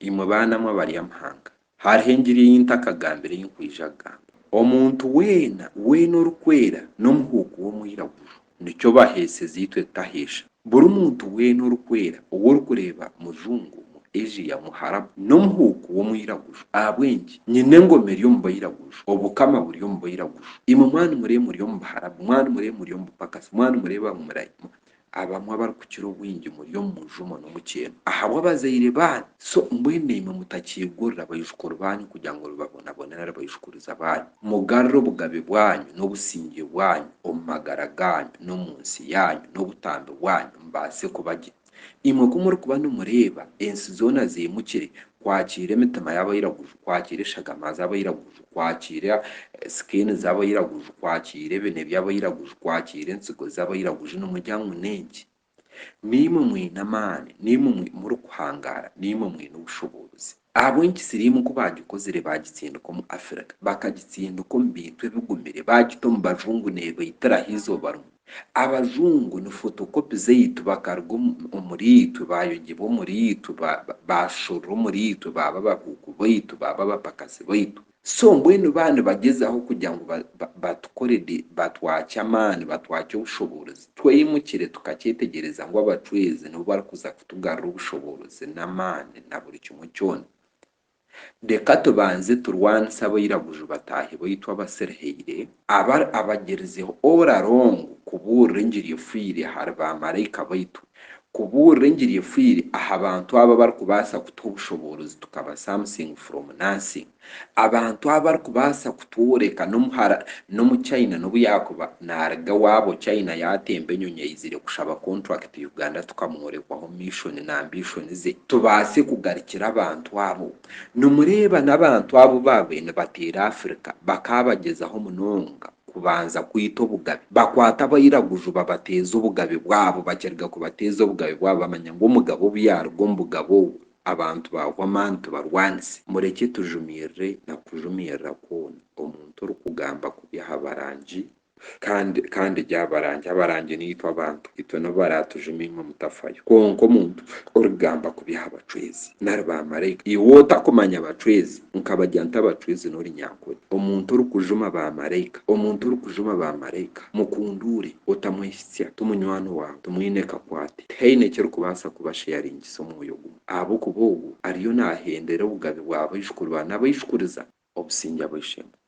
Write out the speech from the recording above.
Imwe baana mwe abaryamahanga, hariho engiri ei ntakagambire ei nkwija kugamba. Omuntu weena, weena orikwera n'omuhuuku w'omwiraguju, nikyo baheeseza itwe tutaheesha. Buri muntu weena orikwera ou orikureeba mujungu, mu Asia, mu Harabu, n'omuhuuku w'omwiraguju. Ahabw'enki? Nyine engoma eri omu bairaguju, obukama buri omu bairaguju. Imwe mwanumireeba muri omu Baharabu, mwanumireeba muri omu bupakasi, mwanumireeba ngu murayi, Abamwe abarikukira obwingi muri omu mujumo n'omukyeno ahabw'abazaire baanyu, so mbwenu imwe mutakiigurira baijukuru baanyu kugira ngu mubabonabone nari baijukuriza baanyu. Mugarure obugabe bwanyu n'obusingye bwanyu omu magara gaanyu n'omu nsi yaanyu n'obutambi bwanyu mbaase kuba gye. Imwe ku murikuba nimureeba ensi zoona ziimukire kwakiira emitima y'abairaguju, kwakiira eshagama z'abairaguju, kwakiira sikeeni z'abairaguju, kwakiira ebine by'abairaguju, kwakiira entsigo z'abairaguju. Nimugira ngu n'enki? Naimwe mwine amaani, naimwe murikuhangaara, naimwe mwine obushoboozi. Ahabw'enki siriimu ku baagikozire baagitsindika omu Afirika, bakagitsindika omu bintu ebigumire, baagita omu bajungu neebaitiraho eizooba rimwe? Abazungu ni fotokopi zaitu, bakaruga omuriitwe, baayongyebwa omuriitwe, baashorora omuriitwe, baaba abahuuku baitu, baaba abapakazi baitu. So mbwenu baba nibagyezaho kugira ngu batukore di, batwakye amaani, batwakye obushoboorozi, tweyimukire tukakyetegyereza ngu abacweezi nibo barikuza kutugarura obushoboorozi n'amaani na buri kimwe kyona. Reka tubanze turwanise abairaguju bataahi baitu abasirihaire, aba abagirizeho ora rongo kubuurira engiri efoire ahari ba maraika baitu, kubuurira engiri efoire aha bantu abo abarikubaasa kutuha obushoboorozi tukaba something from nothing, abantu abo abarikubaasa Pure ka n'omuhara n'omu China n'obu yaakuba naaruga ewaabo China yaatemba enyonyi aizire kushaba kontrakiti Uganda tukamworekwaho mishoni na ambishoni ze tubaase kugarukira abantu abo. Nimureeba n'abantu abu baabaire nibateera Afrika bakaabagyezaho munonga kubanza kwita obugabe. Bakwata abairaguju babateeza obugabe bwabo bakiruga kubateeza obugabe bwabo bamanya ngu omugabe obu yaaruga omu bugabe obwo, Abantu baahwa amaani tibarwanise. Murekye tujumirire na kujumirira kwona omuntu orikugamba kubi aha barangi kandi kandi gye abarangi abarangi naitwe abantu itwe nibo baraatujuma imwe mutafayo kwonka omuntu orikugamba kubi aha bacwezi nari ba maraika iwe otakumanya bacwezi nkabagya nta abacwezi nori nyankore omuntu orikujuma ba maraika omuntu orikujuma ba maraika mukunduure otamwehitsya ti munywani waawe timwine kakwate tihaine ekirikubaasa kuba sharing kubahaanisa omwoyo gumwe, ahabw'okuba ogwo ariyo naahendera obugabe bwa baijukuru ba n'abaijukuriza obusingye ab'eishe-emwe.